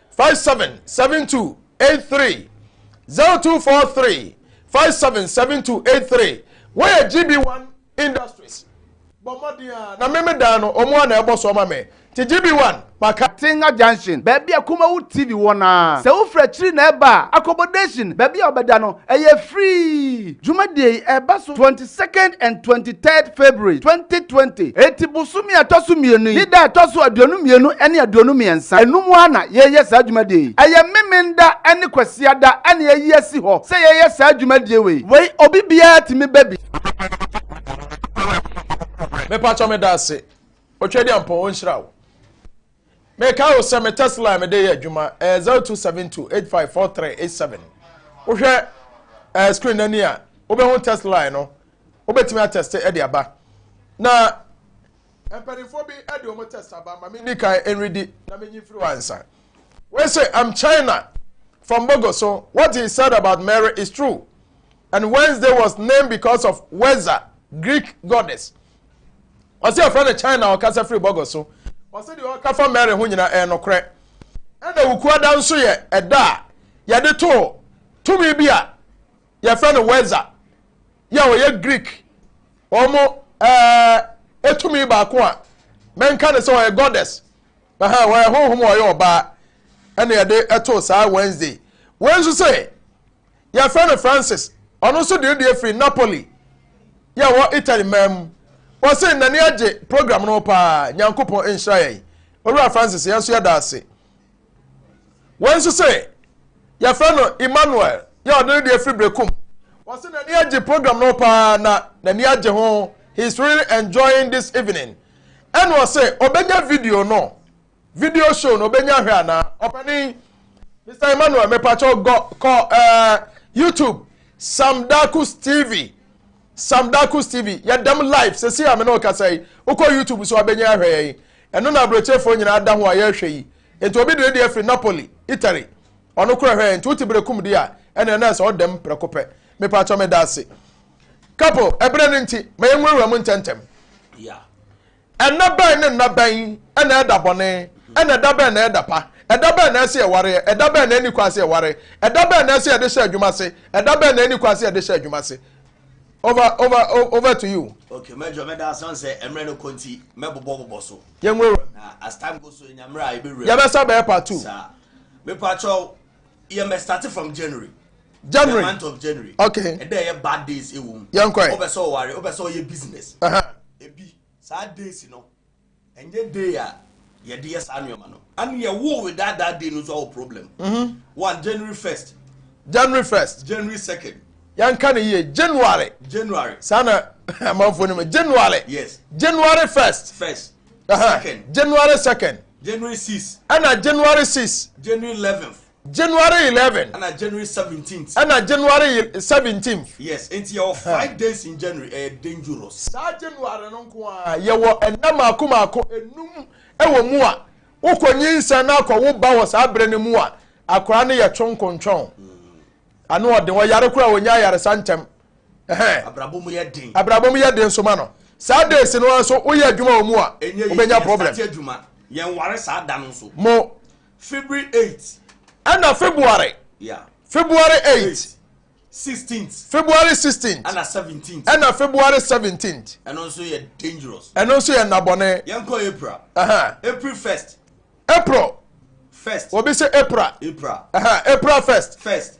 five seven seven two eight three zero two four three five seven seven two eight three wọ́n yẹ gb one industries bọ̀ mmọden a na mímí dan no ọmọ a na ẹbọ so ọma mi ti gb one maka. Atenga junction baabi a Kumawu TV wɔ no ara. Sɛ wofiri akyiri na ɛreba a, accommodation, baabi a wɔbɛda no, ɛyɛ free. Dwumadie yi ɛreba so 20. second and twenty third February twenty twenty. Eti bosome a ɛtɔ so mmienu yi ne da a ɛtɔ so aduonu mmienu ne aduonu mmiɛnsa, ɛno mu ara na yɛreyɛ saa dwumadie yi. Ɛyɛ Memenda ne Kwasiada na yɛayi asi hɔ sɛ yɛyɛ saa dwumadie wei. Wei obi biara tumi ba bi. Mepakyɛw meda ase Otwadiampɔn ɔnhyira wo. Mekae wo sɛ me test line mede yɛ adwuma ɛyɛ zero two seven two eight five four three eight seven. Wohwɛ ɛɛ eh, screen n'ani a wobɛhu test line no wobɛtumi atɛste ɛde aba na mpanimfoɔ bi ɛde wɔn test aba ma me di kan ɛnredi na menyi firi wɔn ansa. Wei say I'm China from Bogo so what he said about Mary is true and Wednesday was named because of Weza Greek goddess ɔsɛ yɛfrɛ no china ɔkasa firi bɔgɔ so ɔsɛ deɛ ɔka fa mary ho nyina ɛyɛ nokorɛ ɛna wukuada nso yɛ ɛda a yɛde too tumi bi a yɛfrɛ no weza yɛ a ɔyɛ greek wɔn ɛɛ ɛtumi baako a mɛnka ne sɛ ɔyɛ goddess ɛhɛn ɔyɛ honhom ɔyɛ ɔbaa ɛna yɛde ɛtoo saa wednesday wɔn nso sɛ Yɛfrɛ no Francis. Ɔno nso de ne deɛ firi Napoli yɛ ɛwɔ Italy man mu. Wɔse n'ani agye program no paa. Nyankopɔn nhyira yɛn. Owura Francis yɛn nso yɛda ase. Wei nso se yɛfrɛ no Emmanuel yɛ ɔde ne deɛ firi Brekum. Wɔse n'ani agye program no paa na n'ani agye ho. He is really enjoying this evening. Ɛna ɔse ɔbɛnya video no. video show no obenya hwɛ ana ɔpanin mr emmanuel mepakyɛ gɔ kɔ ɛɛ eh, youtube sam dakus tv sam dakus tv yɛdɛm live sɛ si ya me ne ɔkasa yi wokɔ youtube so abɛnya ahwɛ yɛ yi ɛno na aburokyefoɔ nyinaa da ho a yɛrehwɛ yi nti obi deɛ deɛ firi napoli italy ɔno korɛ hwɛ nti wote berɛ kum di a ɛne ɛnɛ sɛ ɔdɛm prɛko pɛ mepakyɛ meda ase kapo ɛberɛ no nti ma yɛnwurawura mu ntɛntɛm Nna bɛn ne nna bɛn na ɛda bɔne, ɛnna ɛda bɛn na ɛda pa? Ɛda bɛn na ɛsɛ yɛwareɛ? Ɛda bɛn na ɛnni kwan sɛ yɛware? Ɛda bɛn na ɛsɛ yɛde hyɛ adwuma ase? Ɛda bɛn na ɛnni kwan sɛ yɛde hyɛ adwuma ase? Over, over, over to you. Okay, mɛdwɔ mɛda ase ɔn sɛ mmerɛ no kɔ nti mɛbobɔ bobɔ so. Yɛnwura. Na as time goes so yɛnya mmerɛ a yɛbɛwura mu. Yɛbɛsa bɛyɛ part two. Saa. Mepaakyɛw. yɛ mɛ start from january. january the month of january. okay ɛdɛ yɛ bad days ewu mu. yɛn kɔ yɛ. ɔbɛ sɛ ɔware ɔbɛ sɛ ɔyɛ business. ebi saa days no ɛnyɛ day a yɛde yɛ saa nneɛma no and yɛ wo with that that day no so awo problem. Mm-hmm. one january first. january first. january second. yɛn ka ne yie january. january. saa na amanfo ni mu january. yes january first. first. january 2nd january 6 ɛna january 6 january 11 january 11 ɛna january 17 ɛna january 17 yes nti yɛwɔ five days in january ɛyɛ eh, dangerous saa january no nko a yɛwɔ ɛnna mako mako enum ɛwɔ mu a wokɔ nyinsɛn na akɔ wo ba wɔ saa berɛ no mu a akwaraa no yɛ twonkontwɔn mm. ano ɔden ɔyare koraa ɔnya ayaresa ntɛm abrabɔ mu yɛ den abrabɔ mu yɛ den so ma no saa days no ara nso woyɛ adwuma wɔ mu a wobɛnya problem yɛn ware saa da no nso mo february 8 ɛna february yeah. february 8 16th february 16th ɛna 17th ɛna february 17th ɛno nso yɛ dangerous ɛno nso yɛ nnabɔne yɛnkɔ april uh -huh. april 1st april first obi sɛ april april uh -huh. april first first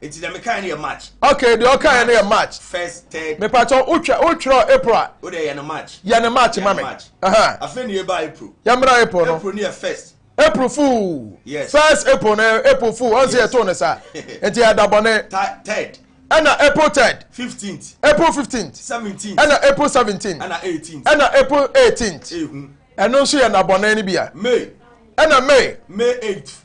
Eti na mekae no yɛ March. Okay, deɛ ɔkae no yɛ March. First, third. Mepatɔ wotwa wotwerɛ April a. O deɛ yɛ no March. Yɛ no March ma me. Afei na yɛba April. Yɛmmra April no. April no yɛ first. April fool. Yes. First April no April fool. Ɔn sɛ yɛtoo no saa. Nti yɛ da bɔne. Third. Ɛna April third. Fifteenth. April fifteenth. Seventeenth. Ɛna April seventeenth. Ɛna eighteenth. Ɛna April eighteenth. Ehu. Ɛno nso yɛ nabɔne no bi a. May. Ɛna May. May eighth.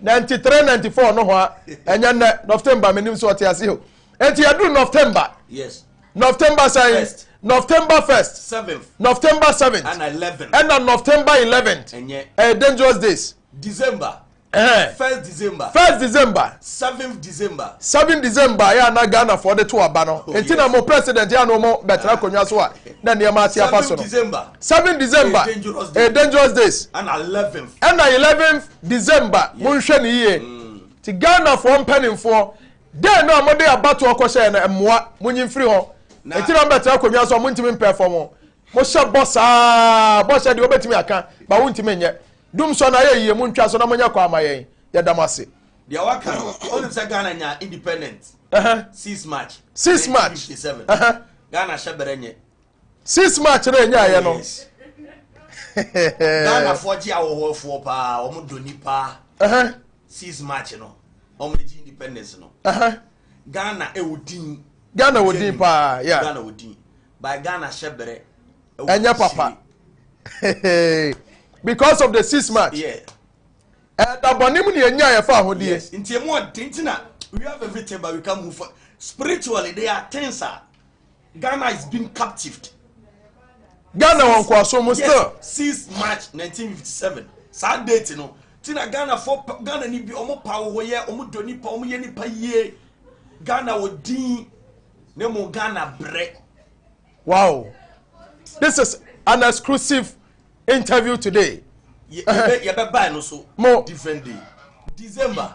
Ninety three ninety four no hɔ a ɛnyɛ nnɛ nɔftemba menim sɛ ɔte ase o eti ɛduru nɔftemba yes nɔftemba sɛn first nɔftemba first seventh nɔftemba seventh ɛna eleven ɛna nɔftemba eleven ɛnyɛ ɛyɛ dangerous days december ɛhɛn first december first december seventh december seven december yɛ ana ghana fɔ de to aba no oh, eti na mo president yɛ ano mo bɛtena akonnwa so a na nneɛma ase afa so no seven december ɛyɛ dangerous days ɛna eleventh ɛna eleventh December monhwɛ no yie nti Ghanafoɔ mpaninfoɔ dɛn no a mode abatoɔ kɔhyɛɛ no mmoa monyi mfiri hɔ ɛti na mobɛtena akonnwa so a montumi mpɛ fam mohyɛ bɔ saa bɔhyɛ deɛ wobɛtumi aka ba wontumi nyɛ dumsɔ no ayɛ yie montwa so na monyɛ kɔ ama yɛn yɛda mo ase deɛ waka no wonim sɛ Ghana nya independent uh -huh. 6 March 6 March 1957 uh -huh. Ghana hyɛ bɛrɛ nyɛ Since match no ɛnyaeɛ no. Ghana foɔ gye ahohoɔfoɔ paa wɔn dɔ nipa. Since match no wɔn gye independence no. Ghana ɛwɔ din. Ghana wɔ din paa. Ghana wɔ din. By Ghana hyɛ brɛ. Ɛnyɛ papa. Because of the six match. Yeah. Ɛda bɔne mu ni ɛnya yɛ fa ahodeɛ. Yes. Nti emu ɔden ti na we have everything but we can move for spiritually they are things are. Ghana is being captived. Ghana wɔ nkoasom mu still. Since March 1957 saa date no ti na Ghana fo Ghana ni bi ɔmo pa wɔ yɛ ɔmo dɔ nipa ɔmo yɛ nipa yie Ghana wɔ din ne mo Ghana brɛ. Wow, this is an exclusive interview today. Yɛ bɛ yɛ bɛ baa no so. Mo different day December.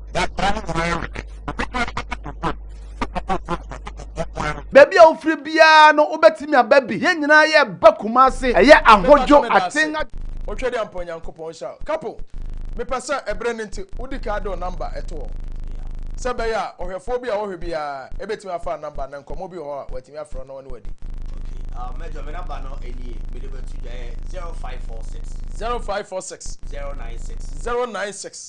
baabi a wofiri biara no wobɛtumi aba bi yɛn nyinaa yɛ ba kuma ase ɛyɛ ahodwo aten wohwɛ de ampa onyankopɔn hyɛ kapo mepɛ sɛ ɛberɛ no nti wodi kaa dɔ namba ɛto hɔ sɛ bɛyɛ a ɔhwɛfoɔ bi a wɔhwɛ biara ɛbɛtumi afa namba na nkɔmmɔ bi wɔ hɔ a watumi afrɛ no ɔne wadi ah, mɛjɔ me namba no ɛnie mede bɛto dwa yɛ 0546 0546 096 096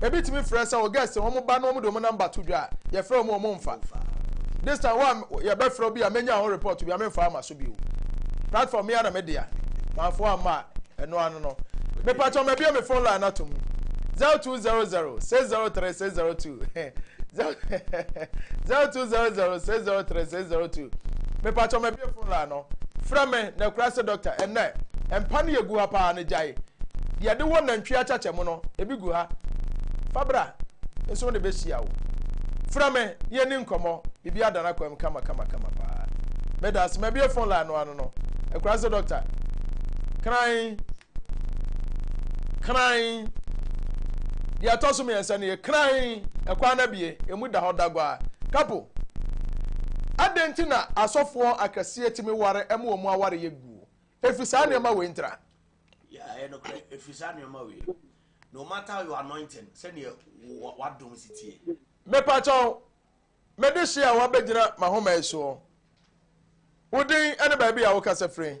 ebi tumi frɛ sɛ wɔ guest wɔn ba na wɔn de wɔn number to dwa a yɛfrɛ wɔn wɔn nfa this time wa yɛbɛfrɛ obi a menya ho report bi a menfa ama so bio platform mi ara na me dea manfo ama a ɛno ano no mepa kyɛw ma bia me phone line ato mu zero two zero zero six zero three six zero two zero two zero zero six zero three six zero two mepa kyɛw ma bia phone line no. frɛ me na ɛkora sɛ dɔkta ɛnnɛ mpa no yɛ gu ha paa no gyae deɛ ɛde wɔ nantwie akyakyɛ mu no ebi gu ha fa bra nso wɔde bɛhyia wo frɛ me ne yɛni nkɔmmɔ biribi ada no akwam kama kama kama paa meda ase mabie phone line no ano no ɛkora sɛ dɔkta kran kran. Deɛ ɛtɔ so mmiɛnsa no yɛ kran, ɛkwan no abie, emu da hɔ dagwa. Kapo, adɛn nti na asɔfoɔ akɛseɛ tumi ware ma wɔn aware yɛ guo? Ɛfiri saa nneɛma wei ntira. Yeah, ɛyɛ nokorɛ, ɛfiri saa nneɛma wei. No matter your anointing, sɛdeɛ wadom si tie. Mepa kyɛw, mede hye a wabɛgyina m'ahoma yi soɔ. Wo din ne baabi a wokasa firi.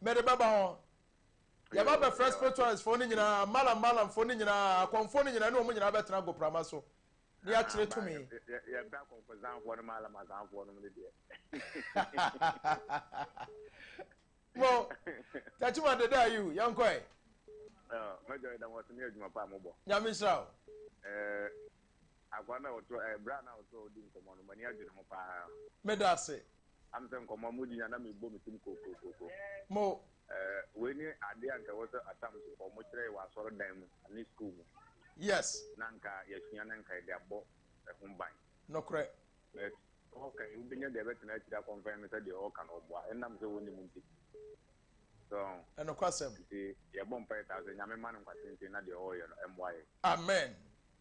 Mede bɛba hɔ. Yɛba bɛfrɛ spiritualistfoɔ no nyinaa, malam malamfoɔ no nyinaa, akɔmfoɔ no nyinaa, ne wɔn nyinaa bɛtena agoprama so, na yɛakyerɛ tumi. Yɛpɛ akɔmfozanfoɔ no malam azanfoɔ no no deɛ. Mo, Tachima deda ayiw, yɛnkɔ ɛ. Mɛjɔ yɛ dɛ wɔn sini adwuma pa a mo bɔ. Nyame nhyira o. Akwa na ɔtɔ, bra na ɔtɔ odi nkɔmɔ no, mani adwene ho paa. Meda ase. am sɛ nkɔmmɔ mudi na na mebɔ me tim kokokoko. Mo. Eh, wei ne adeɛ a nka ɛwɔ sɛ asamsefo ɔmo kyerɛ yɛ wɔ asɔredan mu ne sukuu mu. Yes. Na nka yɛasua na nka yɛde abɔ ɛho ban. Nokorɛ. But ɔka yi wobɛnya deɛ ɛbɛtena akyiri akɔnfɛn me sɛ deɛ ɔka no ɔboa ɛnam sɛ wɔnnim nti. So. Ɛnokwasɛm. Nti yɛbɔ mpaeɛ saa sɛ Nyame ma no nkwa tenten na deɛ ɔreyɛ no ɛmmoa yɛn. Amen.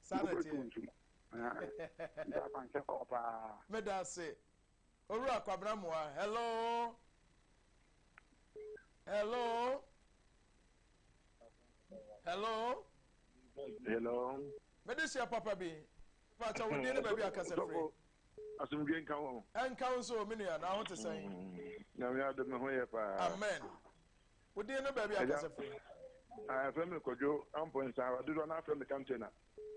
saa na ɛteɛ. Wobɛtu ntum. Nti akwankyɛ kɔɔ paa. Meda ase. Owura Kwabena Moa, hello. Hello. Hello. Hello. Mede hyia papa bi. Pàtó wo din ne baabi akasa firi. Asomdwe nka wɔn. Nka wɔn so, mi nua, na ahote sɛn. Mm. Nyame adom me ho yɛ paa. Amen. wo den no baabi ankasa firi. ɛfrɛ me kɔdwo mpɔnsa dodoɔ no afrɛ me kantona.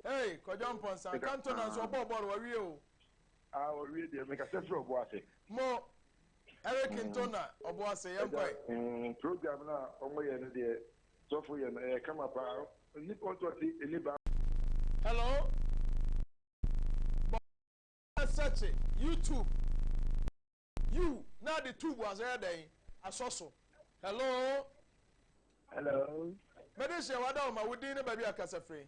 ee kɔdwo mpɔnsa kantona nso ɔbɔɔ bɔɔl wawie o. a ɔwie deɛ mekasɛ frɛ ɔbo ase. mo eric mm. ntona ɔbo ase yɛn kɔe. Mm, program na ɔmo yɛ no deɛ sɔfo yɛ no ɛyɛ kama paa nipa ɔtɔ ti ɛni ba. hello bɔ sɛkye youtube. Yiw, na ade tuw bo ase yɛ dɛn? Asɔ so. Hello. Hello. Mede hyɛ wada wo ma wo din ne baabi a kasa firi.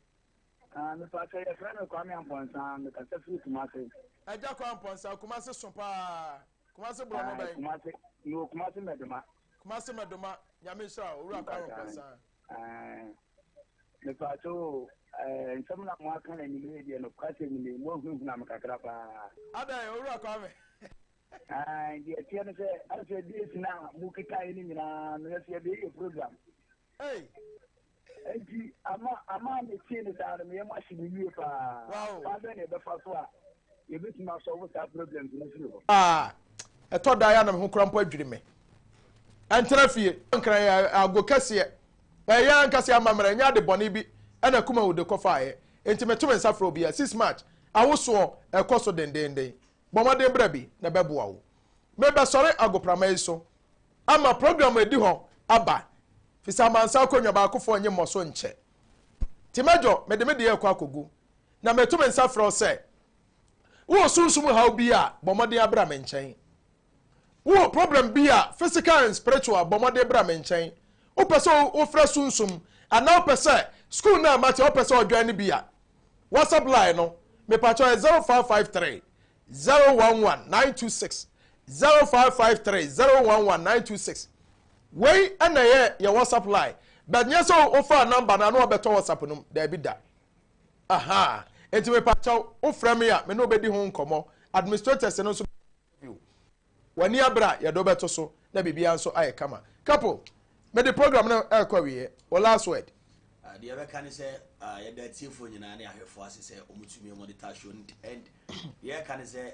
Ah, mepatwa yɛ fɛ no Kwame Ampɔnsa, me kasa firi Kumase. Agya Kwame Ampɔnsa, Kumase so paa. Kumase borɔ no bɛn? Kumase, no Kumase Mɛdoma. Kumase Mɛdoma, nyame nhyira wo, owura Kwame Ampɔnsa. Mepatwo o, nsɛm na moaka na nim yɛ deɛ nokwasɛ nim yi, moahunahuna me kakra paa. Adɛn, Owura Kwame? Deɛ ɛteɛ no sɛ, asɛ days no a mokekaeɛ no nyinaa no, yɛsɛ yɛde yɛyɛ program. Ei! Enti, ama ama metee no saa no, meyɛ mo ahye me yie paa. Wow! Kwan bɛn na ɛbɛfa so a yɛbɛtumi asɔlvo saa problems no firi hɔ ɛtɔ da yɛ na me ho kora mpo adwiri me ɛntena fie nkran yɛ ago kɛseɛ ɛyɛ ankasa amammerɛ ɛnyɛ ade bɔne bi ɛna kuma wude kɔfaeɛ enti meto me nsa frɛ obiara 6 march awosoɔ ɛkɔ so dendenden bɔ mmɔden bra bi na ɛbɛboa wo mebɛsɔre agoprama yi so ama program ɛdi hɔ aba fisa amansa akonnwa baakofoɔ nye mmɔ so nkyɛ nti mɛdwɔ mede me deɛ ɛkɔ akɔgu Na meto me nsa frɛ wo sɛ, wowɔ sunsum haw bi a, bɔ mmɔden abra me nkyɛn. Wowɔ problem bi a, physical and spiritual, bɔ mmɔden bra me nkyɛn. Wopɛ sɛ wofrɛ sunsum, anaa wopɛ sɛ school no a mate a wopɛ sɛ ɔjoin no bi a, WhatsApp line no, mepakyɛw yɛ 0553 011 926, 0553 011 926. Wei na ɛyɛ yɛn WhatsApp line, but nyɛ sɛ wofaa number no a na wabɛtɔ WhatsApp no mu, daabi da. Ahaa, enti mepakyɛw, wofrɛ me a, me ne wo bedi ho nkɔmmɔ. Administrators no nso bɛyɛ interview. W'ani abere a, yɛde wo bɛto so, na biribiara nso ayɛ kama. Kapo, mede program no rekɔ awieɛ. Wo last word? Ah, deɛ yɛbɛka ne sɛ, ah, yɛda atiefoɔ nyinaa ne ahwɛfoɔ ase sɛ wɔtumi wɔde ta show no nti. And deɛ yɛka ne sɛ,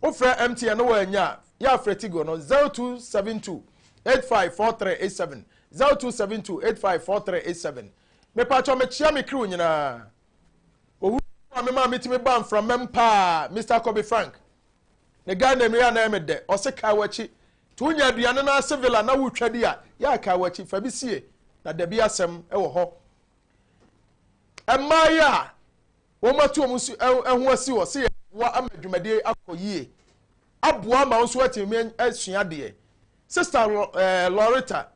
Wo frɛ MTN na wɔ annya a, yɛ a frɛ Tigo no, 0272 85 4387, 0272 85 4387. Mepakyɛw mekyea me crew nyinaa. Owura no boa me maa metumi baa mframam paa, Mister Kobe Frank. Ne Ghana mmere a na ɛyɛ me dɛ, ɔse kae w'akyi. To wonya aduane no ase villa na wotwa di a, yɛ a kae w'akyi, fa bi sie na dabi asɛm wɔ hɔ. Mmaayɛ a. Wɔatu wɔn nso ho asi hɔ sɛ yɛbɛboa ama dwumadie yi akɔ yie, aboa ama wo nso atumi asua adeɛ. Sista Loretta,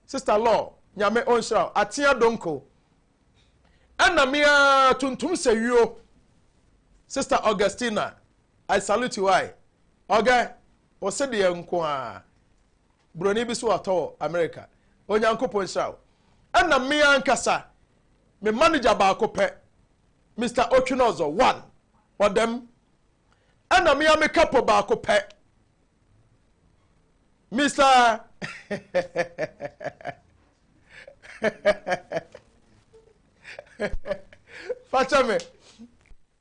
Sista Lor, Nyame ɔnhyira wo, Atea Donko. Ɛna me ara Tuntum Sewuo, Sista Augustina, I salute you I. Ɔgɛ, wo se deɛ nko a, buroni bi so atɔ wɔ Amerika. Onyankopɔn nhyira wo. Ɛna me ara nkasa, me manager baako pɛ, Mister Otwinozor, one, ɔda mu, ɛna me ara me kapo baako pɛ, Mister fakyɛ me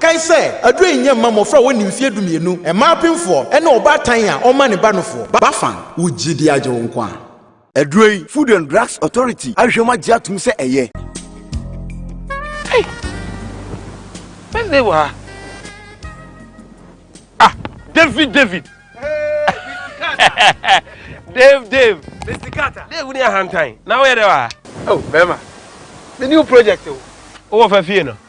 Kae sɛ, aduro yi nyɛ mma mmɔfra a wɔnni mfeɛ dumienu, mmaa apemfoɔ, ne ɔbaatan a ɔmma ne ba nofoɔ. Bafang, wo gyidie agye wo nko a. Aduro yi, Food and Drugs Authority ahwehwɛ mu agye atom sɛ ɛyɛ. Ei! Wednesday wɔ ha? Ah, David, David! Dave, Dave! Mr. Carter! Dave, wo ni ahantan, na woyɛ dɛ wɔ ha? Oh, bɛrima, me new project o. Wowɔ fa fie no?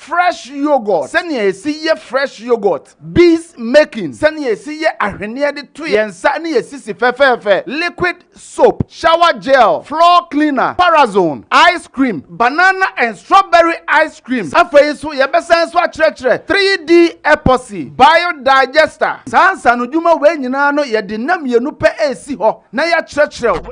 Fresh Yoghurt, Sɛnea Yesi Yɛ Fresh Yoghurt, Bees Making, Sɛnea Yesi Yɛ Ahweneɛ De To Yɛn Nsa Ne Yɛn Sisi Fɛfɛɛfɛ, Liquid Soap, Shower Gel, Floor Cleaner, Parazone, Ice Cream, Banana and Strawberry Ice Cream. Afei nso, yɛbɛsan nso akyerɛkyerɛ 3D Epoxy, Biodigester. Saa nsaanodwuma wei nyinaa no, yɛde nna mmienu pɛ resi hɔ na yɛakyerɛkyerɛ wo.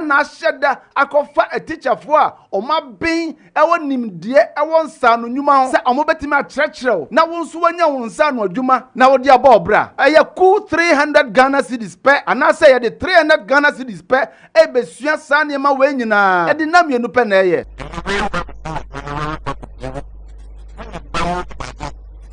na ahyɛ da akɔfa atikyafoɔ a wɔaben wɔ nimdeɛ wɔ nsaano nnwuma ho sɛ wɔbɛtumi akyerɛkyerɛ wo na wo nso woanya wo nsaano adwuma na wode abɔ wo bra. Ɛyɛ kuw three hundred Ghana cedis pɛ anaasɛ yɛde three hundred Ghana cedis pɛ rebɛsua saa nneɛma wei nyinaa. Ɛde nna mmienu pɛ na ɛyɛ.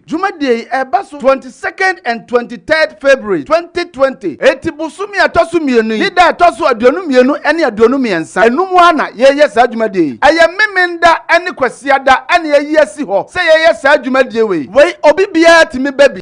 Dwumadie yi ɛba so twenty second and twenty third February twenty twenty. Enti bosome a ɛtɔ so mmienu yi ne da a ɛtɔ so aduonu mmienu ne aduonu mmiɛnsa ɛno mu ara na yɛyɛ saa dwumadie yi. Ɛyɛ Memenda ne Kwasiada na yɛayi asi hɔ sɛ yɛyɛ saa dwumadie wei. Wei obi biara tumi ba bi.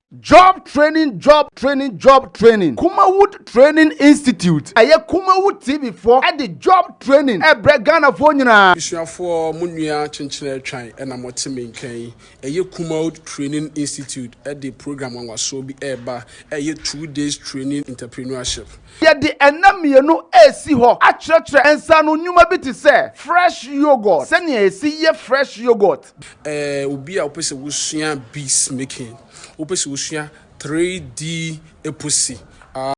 Job Training Job Training Job Training Kumawood Training Institute Ɛyɛ Kumawood TV foɔ de Job Training ɛbrɛ Ghanafoɔ nyinaa. Abusuafoɔ, mo nua Kyenkyen Atwan na mote me nka yi. Ɛyɛ Kumawood Training Institute de program nwanwasoɔ bi reba a ɛyɛ Two Days Training Entreprenuership. Yɛde nna mmienu resi hɔ akyerɛkyerɛ nsaano nnwuma bi te sɛ Fresh Yoghurt, sɛnea yɛsi yɛ Fresh Yoghurt, Ɛɛ obi a wopɛ sɛ wosua beads making, wopɛ sɛ wosua 3D eposi, ah.